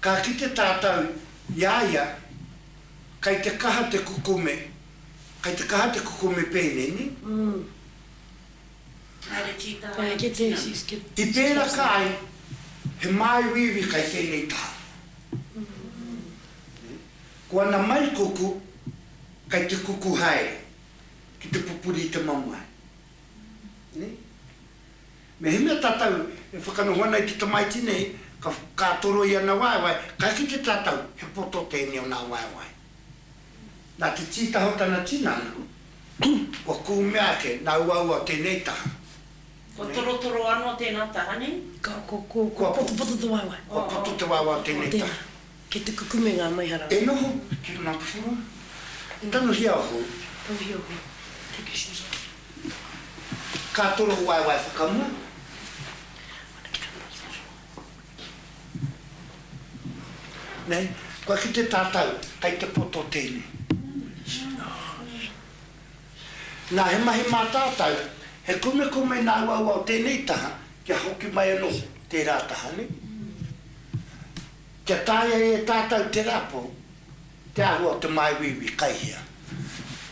Ka kite tātou i a ia kei te kaha te kukome, kei te kaha te kukome pēnei, nē? I pēraka ai he māuiui kei tēnei taha. Ko ana mai kuku kei te kuku haere ki te pupuri i te mamae, nē? Mehemea tātou e whakanoho ana i te tamaiti nei, ka whakaatoro i ana waewae, kai kite tātou he poto tēnei o nā waewae. Nā te tītaha o tana tinana, kua kūmea ake nā uaua o tēnei taha. Kua torotoro anō tēnā taha nei? Kua poto te waewae o tēnei taha. Kei te kukume ngā maihara. E noho ki runga kōrero. I tanohia o hou. Tanohia o hou. Thank you Susan. Ka toro waewae whakamua. Nei, kua kite tātou kei te poto tēnei. Nā, he mahi mā tātou, he kumekume nā uaua o tēnei taha kia hoki mai anō tērā taha, nē? Kia taea e tātau te rapu te āhua o te māuiui kai hea.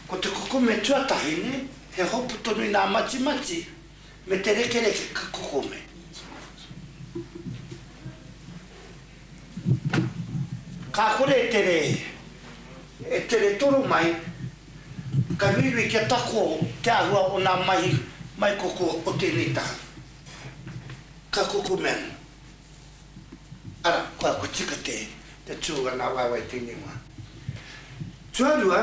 Ko te kukume tuatahi nei, he hopu tonu nā matimati me te rekereke ka kukume. Ka kore e tere, e tere toro mai, ka uiui kia tako te āhua o nā mahi maikoko o tēnei taha. Ka kukume ana. Ara, koa, kua tika te, te tū a ngā waewae tēnei wā. Tuarua,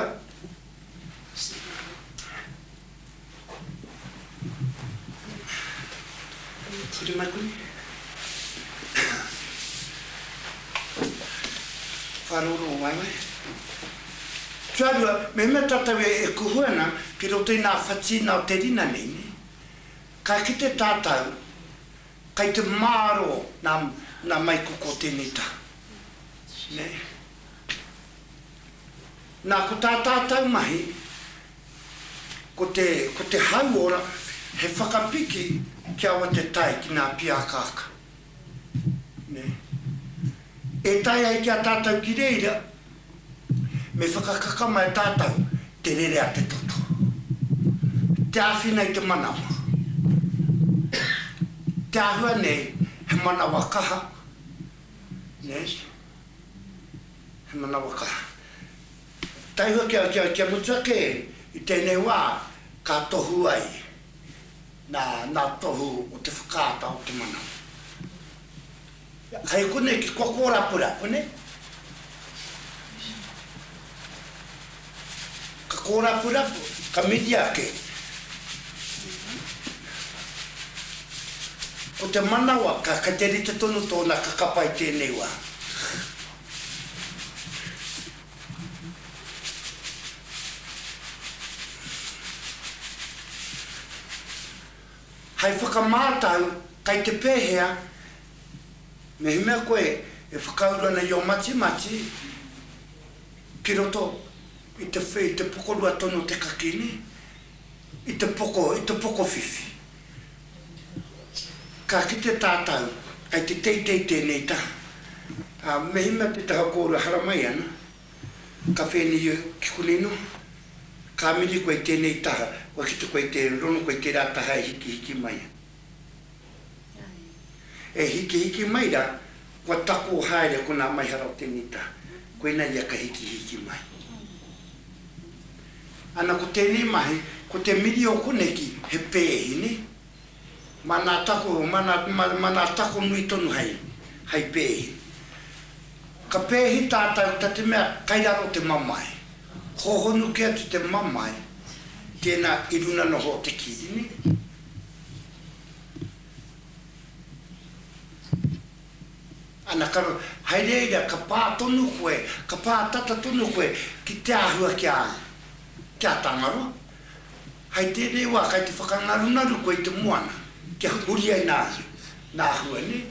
Ture mai koni. Whārouro o waewae. Tuarua, mehemea tātou e, e kuhu ana ki roto i nā whatīna o te rina nei, nē, ka kite tātou, Kai te maro na na maikoko tenei taha ne na ko ta tatau mahi ko te ko te hauora he whakapiki kia wa te tae ki na piakaaka ne E tae ai ki a tātou ki reira, me whakakaka mai tātou te rere a te toto, te āwhina i te manawa, te āhua nei he manawa kaha, he manawa kaha. Taihoa kia mutu ake i tēnei wā ka tohu ai nā tohu o te whakaata o te manawa. Hei konei ki kua kōrapura konei. Ka kōrapura, ka mihi ake. Ko te manawa, ka, kei te rite tonu tōna kakapa i tēnei wā. Hei whakamātau, kei te pēhea? Mehemea koe e whakauru ana i ō matimati ki roto i te i te pokorua tonu o te kakī, nē? I te poko, i te pokowhiwhi. Ka kite tātau, kei te teitei tēnei taha. Ā, mehemea te taha kōrua haramai ana, Ka whēnei au ki konei noa. Ka mini koe i tēnei taha, kua kite koe i te rono koe i tērā taha e hikihiki mai ai. E hikihiki mai rā, kua tako haere konā mai hara o tēnei taha, koinā ia ka hikihiki mai. Ana ko tēnei mahi, ko te mini o koneki he pēhi, nē? Mana tako, mana, mana tako nui tonu hai, hai pēhi. Ka pēhi tātau ta te mea kai raro te mamae. Hōhonu kē atu te mamae, tēnā i runa noho o te kīrine. Ana ka, hai reira ka pā tonu koe, ka pā tata tonu koe ki te āhua kia, kia tangaroa. Hei tēnei wā kai te whakangarunaru koe i te moana kia huri ai nā hia, nā hua nē.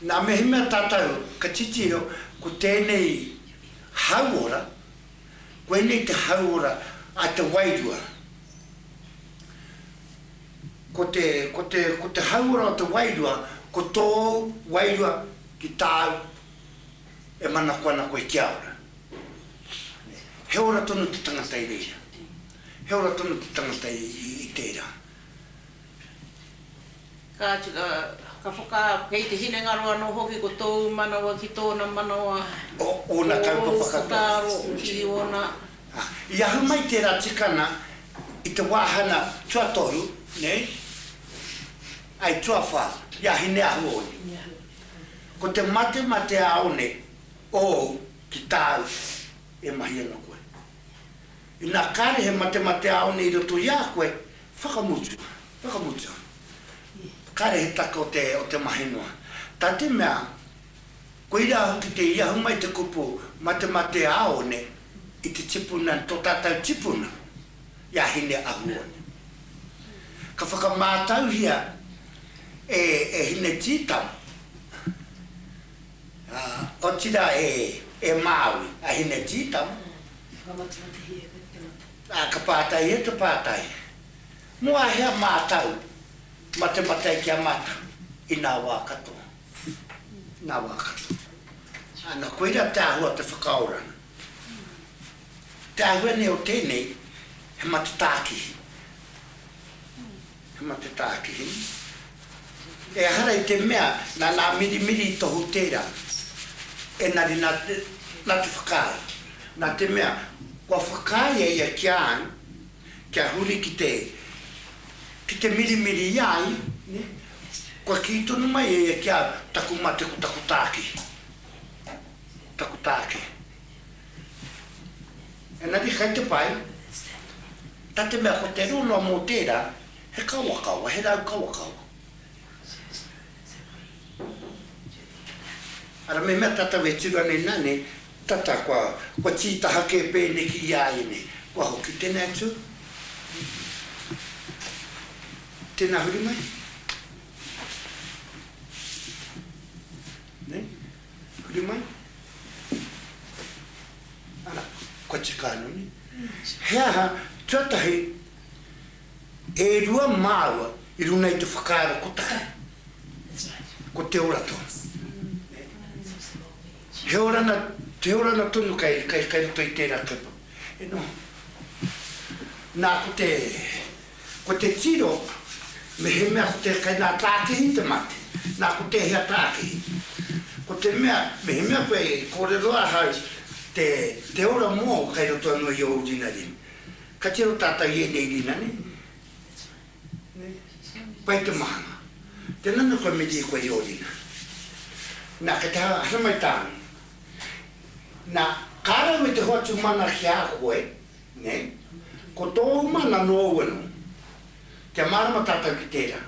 Nā mehemea tātou ka titiro ko tēnei hauora, koinei te hauora a te wairua. Ko te, ko te, ko te hauora o te wairua, ko tōu wairua ki tāu e manako ana koe kia ora. He ora tonu te tangata i reira. He ora tonu te tangata i, i, i tērā. Kāti, ka whakaaro, kei te hinengaro anō hoki ko tōu manawa ki tōna manawa, ko ōna kaupapa katoa. Whakaaro ki ōna. I ahu mai tērā tikanga i te wāhanga tuatoru, nei, ai tuawhā, i a Hineahuone. Ko te mate mā te āone ōu ki tāu e mahi ana koe. Inā kāre he matemate āone i roto i a koe, whakamutu, whakamutu. Kāre he take o te, o te mahi noa. Tā te mea, koirā hoki te i ahu mai te kupu matemate āone i te tipuna, tō tātou tipuna, i a Hine Ahuone. Ka whakamātauhia e, e Hine Tītama, Ā, otirā e, e Māui, a Hinetītama. Whakamatatahi e koe te tangata. Ā, ka pātai e te pātai, Mō a hea mātau ma te matai ki a mātau i nā wā katoa, nā wā katoa? Ana, koira te āhua o te whakaoranga. Te āhua nei o tēnei, he matatākihi. He mate tākihi. Ehara i te mea, nā nā mirimiri i tohu tērā. Engari nā te, nā te whakaae. Nā te mea, kua whakaaea ia ki a au, kia huri ki te, ki te mirimiri i a ia, nē. Kua kī tonu mai e ia ki a au, taku mate ko taku tākihi. Taku tākihi. Engari kei te pai, Na te mea ko te reo noa mo tera, he kawakawa, he rau kawakawa. Ara memea tatau e turu ana ina nei, tata kua, kua titaha ke peneki i a ia nei. Kua hoki tena e tu. Tena huri mai. Nei? I kuri mai. Ana, kua tika anu nei. He aha, tuatahi, e rua māua i runa i te whakaaro kotahi. Ko te ora tonu. He orana, he orana tonu kai, kai, kai roto i tērā kaupapa. E noho. Nā, ko te, Ko te tiro, mehemea ko te kainā tākihi te mate, nā ko tēhea tākihi. Ko te mea, mehemea koe e kōrero ahau te, te ora mōu kai roto anō i ōu rinarina. Ka tiro tātou i ēnei rina nei, nē? Pai te mahanga. Tēnā nō koe me riri koe i ō rina. Nā, kei te haramai tāna. Nā, kā rau e te hoatu mana ki a koe, Nē? Ko tōu mana nō Owino. Kia mārama tātou ki tērā.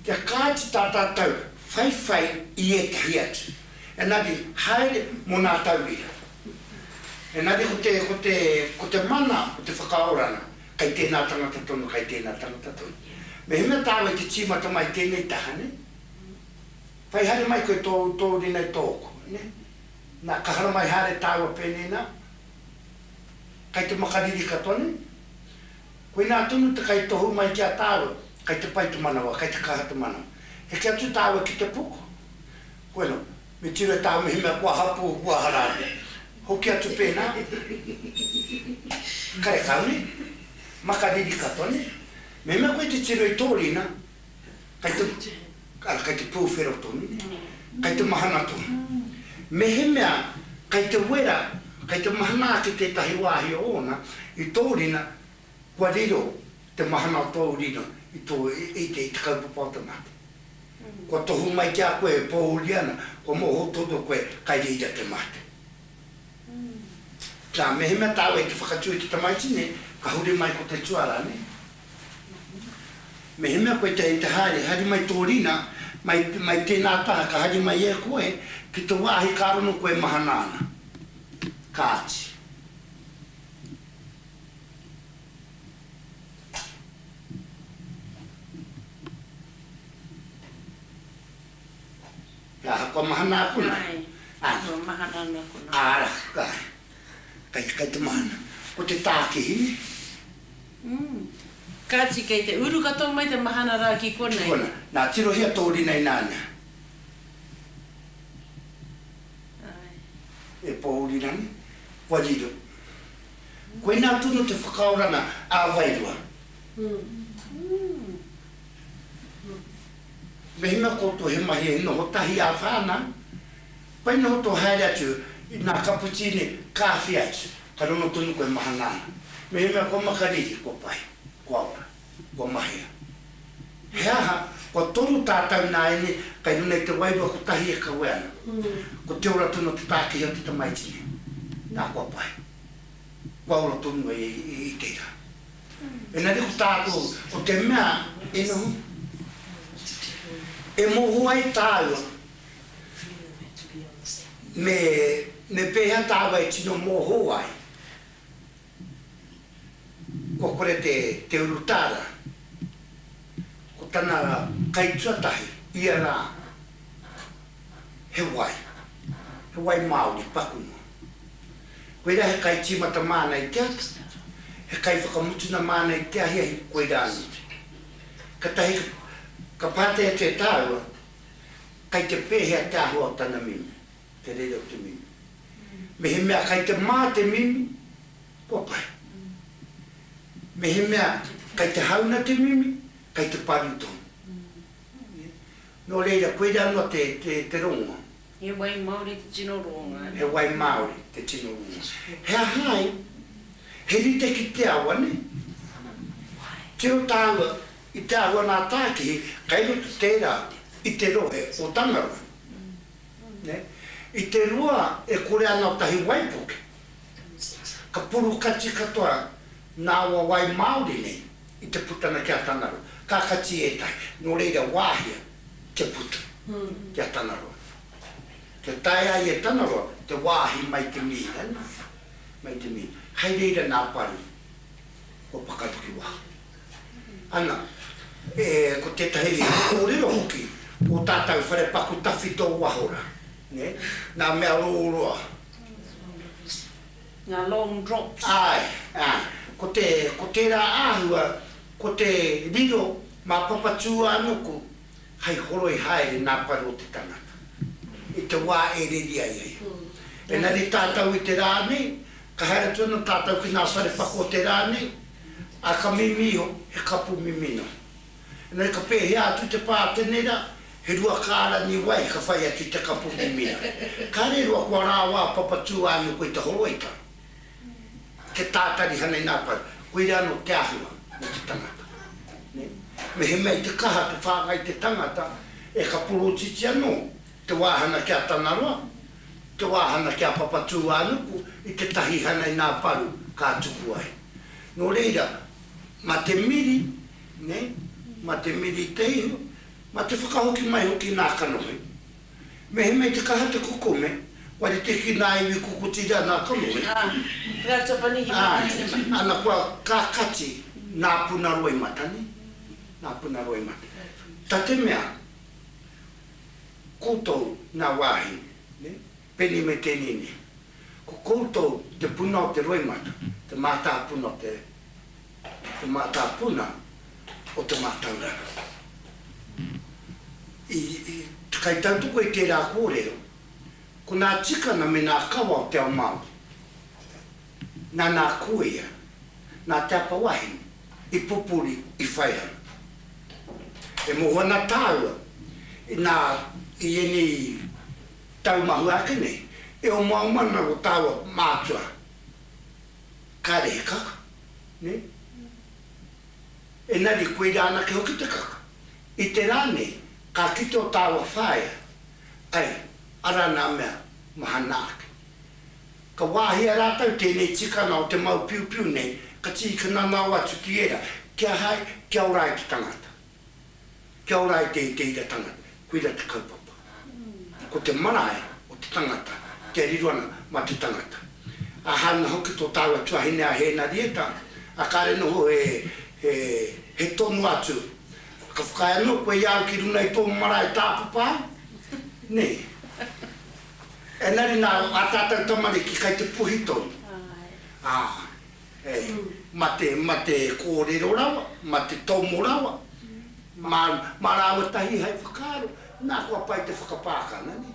Kia kāti tā tātou whaiwhai i ētahi atu. Engari, haere mō nā tauira. Engari ko te, ko te, ko te mana o te whakaoranga, kei tēnā tangata tonu, kei tēnā tangata tonu. Mehemea tāua te tīmata mai tēnei taha, nē? Whai haere mai koe tōu, tōu ringa i tōku, nē? Nā, ka hara mai haere tāua pēnei nā. Kei te makariri katoa nei. Koinā tonu te kaitohu mai ki a tāua, kei te pai te manawa, kei te kaha te manawa. Heke atu tāua ki te puku. Bueno, me tiro e tāua mehemea kua hapū, kua harāre. Hoki atu pēnā. Karekau nei. Makariri katoa nei. Mehemea koe te tiro i tō rina, kei te Ara, kei te pūwhero tonu, kei te mahana tonu. Mehemea kei te wera, kei te mahana ake tētahi wāhi o ōna i tō rina, kua riro te mahana o tōu rino i tō, i te, i te kaupapa o te mate. Kua tohu mai ki a koe e pōuri ana, kua mōhou tonu koe kai reira te mate. Nā, mehemea tāua i te whakatū i te tamaiti nei, ka huri mai ko te tuarā, nē? Mehemea koe te hei te haere, haere mai tō rina, mai, mai tēnā taha ka haere mai e koe ki te wāhi ka rono koe e mahana ana. Kāti. He aha kua mahana aku nei? Nāe, kua mahana ana aku nei. Āra, kai, kai, kai te mahana. Ko te tākihi nei. Kāti, kei te uru katoa mai te mahana rā ki konei. Kona, nā Tirohia tō rina i nāna. E pōuri rānei? Kua riro. Koinā tonu te whakaoranga ā wairua. Me hinga koutou he mahi e noho tahi ā whānau, Pai noho tō haere atu i nā kaputīne kāwhi atu, ka rongo tonu koe e mahana ana. Mehemea kua makariri, kua pai, kua ora, kua mahea. He aha, kua toru tātau nāianei kei runga i te wairua kotahi e kawe ana. Ko te ora tonu o te tākehi o te tamaiti nei. Nā, kua pai. Kua ora tonu ai i te ira. Engari ko tātou, ko te mea e noho, e moho ai tāua, Me, me pēhea tāua e tino mōhō ai, kua kore te, te urutā rā, ko tana kaituatahi ia rā, he wai, he wai māori paku noa. Koirā he kaitīmata māna i te ata, he kaiwhakamutuna māna i te ahiahi, koirā anō. Katahi ka, ka pātai atu e tāua, Kei te pēhea te āhua o tana mimi, te rere o te mimi? Mehemea kei te mā te mimi, kua pai. Mehemea kei te hauna te mimi, kei te paru tonu. Nō reira, koirā noa te, te, te rongoa. He wai māori te tino rongoa. He wai māori te tino rongoa. He aha ai? He rite ki te awa, nē? Tiro tāua I te āhua nā Tākihi kei roto tērā i te rohe o Tangaroa. I te rua e kore ana o tahi waipuke, ka purukati katoa nā aua wai māori nei i te putanga ki a Tangaroa. Ka kati ētahi, nō reira wāhia te puta ki a Tangaroa. Kia tae ai e Tangaroa te wāhi mai te mīna, mai te mīna. Hai reira nā Pari kua pakaru ki waho. ana, e, ko tētahi kōrero hoki o tātou whare paku tawhito waho rā, nē, ngā mea rōroa. Ngā long drops. Āe, ā, ko te, ko tērā āhua, ko te riro mā Papatūānuku hei horoi haere nā paru o te tangata, i te wā e reri ai ai. Engari tātou i te rā nei, Ka haere atu ana tātou ki ngā wharepaku o te rā nei, ā, ka mimi iho, he kapu mimino. Engari ka pēhea atu te pātenera, he rua kārangi wai ka whai atu i te kapu mimino. Kāre e rua kua rāwā papatū ā ioko i te horoika, kia tātari hanei ngā paru, koira anō te āhua mō te tangata. Mehemea i te kaha te whāngai te tangata, e ka porotiti anō te wāhana ki a Tangaroa, te wāhana ki a Papatūānuku i tētahi hana inā paru ka tuku ai. Nō reira, mā te miri, nei, mā te miri te ihu, mā te whakahoki mai hoki inā kanohi. Mehemea i te kaha te kukome, kua rite ki inā iwi kukutiri anā kanohi, ā, ana kua kakati nā puna roimata, nei, nā puna roimata. Ta te mea, koutou ngā wāhine, Peni me Kenini. Ko koutou te puna o te roimata, te mātāpuna o te, te mātāpuna o te mātauranga. I, i, kai tautoko i tērā kōrero, ko nā tikanga me nā kawa o te ao Māori. Nana a Kuia, nā Te Apawahine i pupuri i Whaiharupu. E moho ana tāua, inā i ēnei tau mahue ake nei, e omaoma ana ō tāua mātua. Kāre he kaka, nē? Engari koirā anake hoki te kaka. I te rā nei, ka kite ō tāua whaea, ai, arā nā mea mahana ake. Ka wāhia rātou tēnei tikanga o te mau piupiu nei, ka tīkananao atu ki ērā, Kia hae, kia ora ai te tangata. Kia ora ai te iteira tangata. Koira te kaupapa. Ko te marae o te tangata, kia riro ana mā te tangata. Ā, hāunga hoki tō tāua tuahine a Hēnarieta, ā, kāre noho he, he, he tono atu, Ka whakaae anō koe i a au ki runga i tō marae tāpapa au? Nei. Engari nā ā tātou tamariki kai te puhi tonu, ā, e, mā te, mā te kōrero rawa, mā te tomo rawa, mā, mā rāua tahi hai whakaaro, nā kua pai te whakapākana, nē.